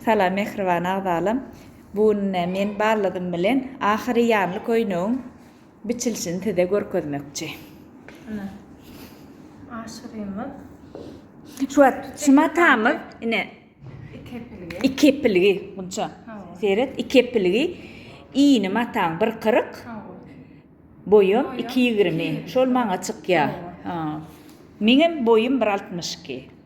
Salam mähriban agzalam. Bu gün ine men ballydym bilen ahyry ýanly köýnegiň biçilişini size görkezmekçi. Ine. Aşyrymyz. Şu wagt şu matamyz ine iki epilgi. Iki epilgi Gunça. Seret, iki epilgi. Iýni mataň 1.40. Boýum 2.20. Şol maňa çykýar. Ha. Meňem boýum 1.62.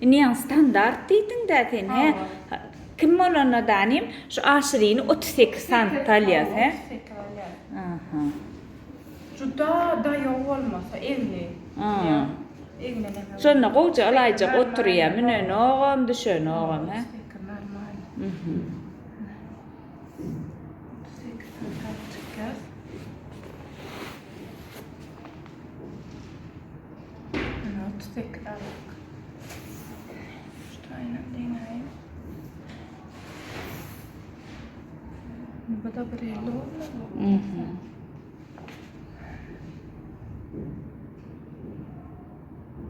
Iniň standart diýdiňdä sen he. Kim bolanda da inim şu aşirini 38 santta alýas he. Aha. Juda daýaw bolmasa egni. Şonda gowja ylaýjak oturýa münenogam düşenogam he.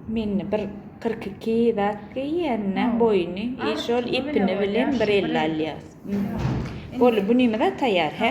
Mende bir kyrk iki zat geýýänine boýuny şol ipini bilen bir elli alýas. Boldy bu nime zat taýýar hä.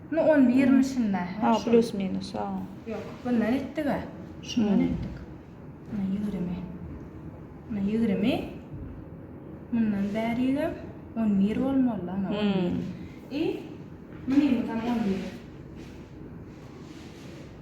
Nu on bir mi şinda he şol. Ha plus minus ha. Yok bundan etdiga şundan etdik. Muna ýigrimi. Muna ýigrimi. Mundan bärigem on bir bolmalydy ana on bir. I munymyzam on bir.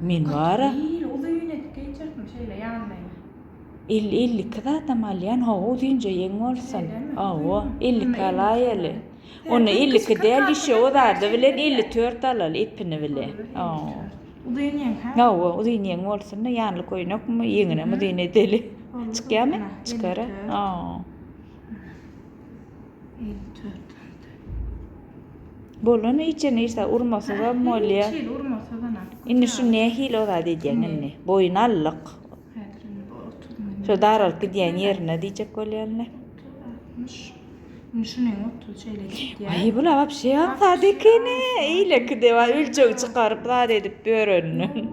Men bara. Kyrk ýyl uzyn edip geçiripmi şeýle ýanlaýyn. Elli, elli iki zadam alýan, hawa uzynja ýeň bolsun. Şeýlemi? Hawa, elli iki alaýaly. Onda elli iki däl, işe o zady bilen elli dört alaly epini bile. Hawa. Uzyn ýeň, hä? Hawa, uzyn ýeň bolsun-da, ýanly köýnekmi, ýeňinem uzyn edeli. Çykýamy? Çykar-a. Hawa. Elli dört aldy. Bolan içe nirsa urmasyza molýa. Çil urmasyz ana. Indi şu nähili o zat edýän indi. Boýun allyk. Häzir indi bu 30 münýän. Şu daralyp gidýän ýerine diýjek bolýanlar. 60. Indi şuny 30 şeýle gidýär. Aý bu labap şey zat ekeni. Eýleki de bar ölçeg çykaryp zat edip ýörenden.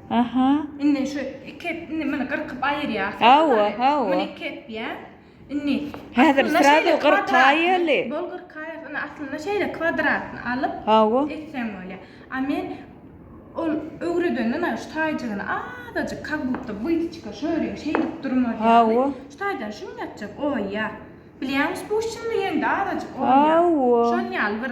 Aha. Indi şu iki indi meni gyrkyp aýyrýar. Hawa, hawa. Meni iki etýär. Indi Häzir aslynda srazu şeýle 40 kwadratny- kaýaly. Bol kyrk kaýasy, indi aslynda şeýle kwadratny alyp Hawa. etseň bolýa. A men ol öwredenden aýry şu taýjygyny azajyk kak budka bytyçka şöýleýin şeýdip durmaz ýaly. Hawa. Şu taýdan şum ýatjak oýýa. Bilýäňmi spusçenli ýeňde azajyk oýýa. Hawa. Şol ýaly bir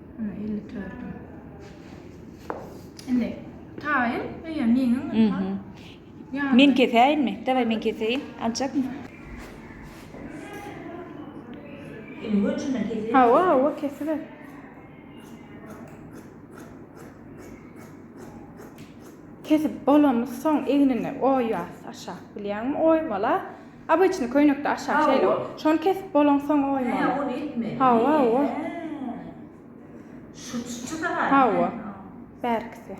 Elli tördi. Indi taýyn, eýe, meniň. Mhm. Ýa. Men kesäýinmi? Daway men keseýin. Aljakmy? Indi öňçünden keseýin. Hawa, hawa, kesiber. Kesip bolany soň egnini oýas aşak bilýäňmi? Oýmala. Obyçny köýnekde aşak şeýle şony kesip bolan soň oýmaly. Hä ony etmeli. Hawa hawa. Şu çyçy da bar. Hawa. Bärkisi.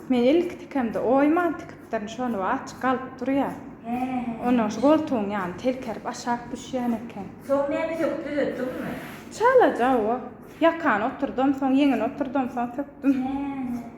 Men ilki tikemde oýman tikipdirin şony we açyk galyp durýa. Hä hä. Ondan şu goltugyň ýany telkerip aşak düşýän eken. Soň näme söküp düzetdiňmi? Çalaja hawa. Ýakany oturdam soň ýeňini oturdam soň sökdüm. Hä hä.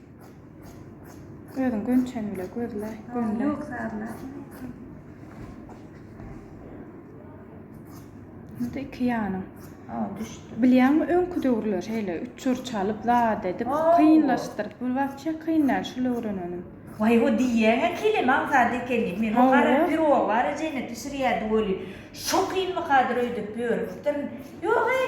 Özüň gönçäni bile gözle, gönle. Yok sazla. Indi iki ýanyň. Ha, düşdi. Bilýäňmi, öňki döwürler şeýle üçür çalyp, zat edip, Aw. kynlaşdyryp, bu wapşe kyn däl, şul öwreneniň. Waý, o diýýäň-ä kelem aňsat ekeni. Men o Hawa. gara pirog bar ejeňe bişirýärdi weli. Şo kynmykadyr öýdüp ýörüpdirin. Ýog-eý.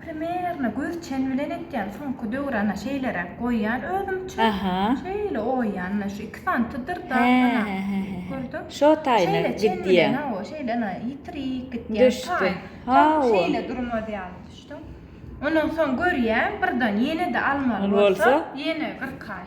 Primerno göz çen bilen etýän, soňky döwrana şeýleräk goýýan özümçe. Aha. Şeýle oýýan, şu iki santydyr da. Gördüm. Şo taýna gidýän. Şeýle, o şeýle ýitirik gitýän. Düşdi. Ha, şeýle durmaz ýaly düşdüm. Ondan soň görýän, birden ýene-de almaly bolsa, ýene 40 aý.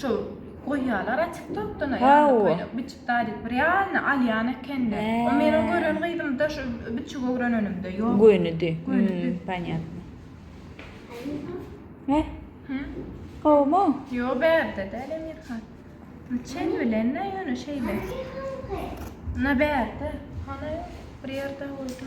Şu goýýalar açyk tokdan aýaly köýnek biçip daýdyp bir ýalyny alýan ekende. O meniň gören gyzym da şu biçip öwrenenimde ýok. Gönüdi. Gönüdi. Panýatno. He? Hä? Gowumy? Ýo bärde däl Emirhan. Çen bilen-ä ýöne şeýle. Na bärde. Hany bir ýerde bolsa.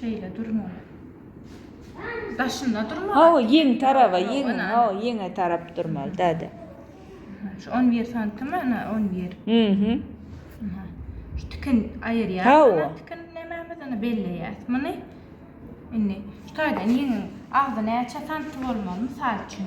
Şeýle durmaly. Daşynda durmaly. Hawa, ýeň taraba, ýeň, hawa, ýeňe tarap durmaly, däde. Şu 11 santim, ana 11. Mhm. Şu tikin aýyrýas. Hawa. Tikin nämämizini belleýäs. Muny indi şu taýdan ýeňiň agzy näçe santim bolmaly, mysal üçin.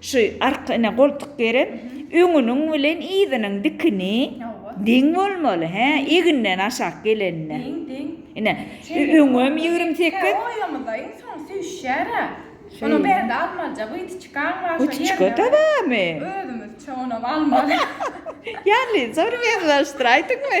Şu arkasyna goltuk gerek. Öňüniň bilen yzynyň dikini deň bolmaly, hä, eginden aşak gelende. Deň, deň. Ine, öňem ýigrimi sekiz. Hä, oýamyza iň soň süýşýär-ä. Onuň bärde almalyja wytyçkaň bar. Wytyçka-da barmy? Özümiz üçin onam almaly. Ýaly, soň ýazgylaşdyraýdyňmy?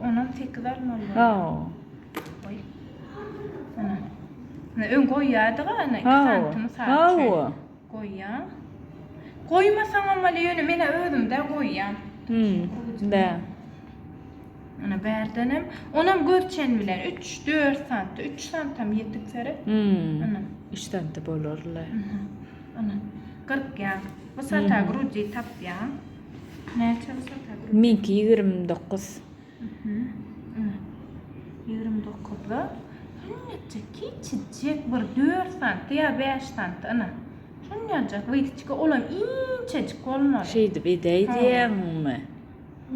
Onam sekiz almaly bolýar. Hawa. Goý. Ana. Ana öň goýýardyk ana iki santymy sap. Hawa. Goýýan. Goýmasaň hem bolýar, ýöne men özüm-de goýýan. Hmm. Bä. Ana bärden hem onam görçen bilen 3-4 santy, 3 santam ýetik sere. Hmm. Ana. 3 santy bolar-la. Ana. 40 ýa. Bu sata grudi tapýan. Näçe bu sata gruza? Meňki ýigrimi dokuz. Ýigrimi dokuzda. Şunyajyk kiçijik bir dört santy ýa bäş santy ina. Şunyajyk witçki olam inçejik bolmaly. Şeýdip edäý diýýäňmi?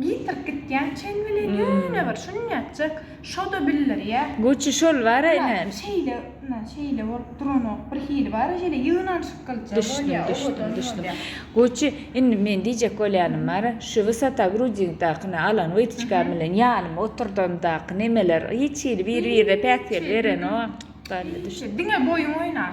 Getirip gitýän çen bilen ýöne bir şunyajyk. Şo-da bildirýär. Goçy şol bar-a ine. Ýa, şeýle, ynha, şeýle bolup duranok. Birhili bar-a şeýle ýygnanyşyk gylyja bolýar, owadan bolýar. Goçy, indi men diýjek bolýanym bar-a, şu wysota grudingdakyny alan Witçkam bilen ýanyma oturdandakyn emeler hiç hili biri-birine päsgel berenok. Barybir düşün. Diňe boýuň oýnar.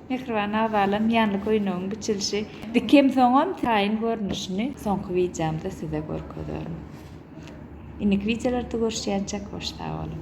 Mähriban abalam ýanly köýnegiň biçilişi dikem soňam taýyn görnüşini soňky wideomda size görkezerin. Indiki wideolarda görüşýänçek hoş sag boluň.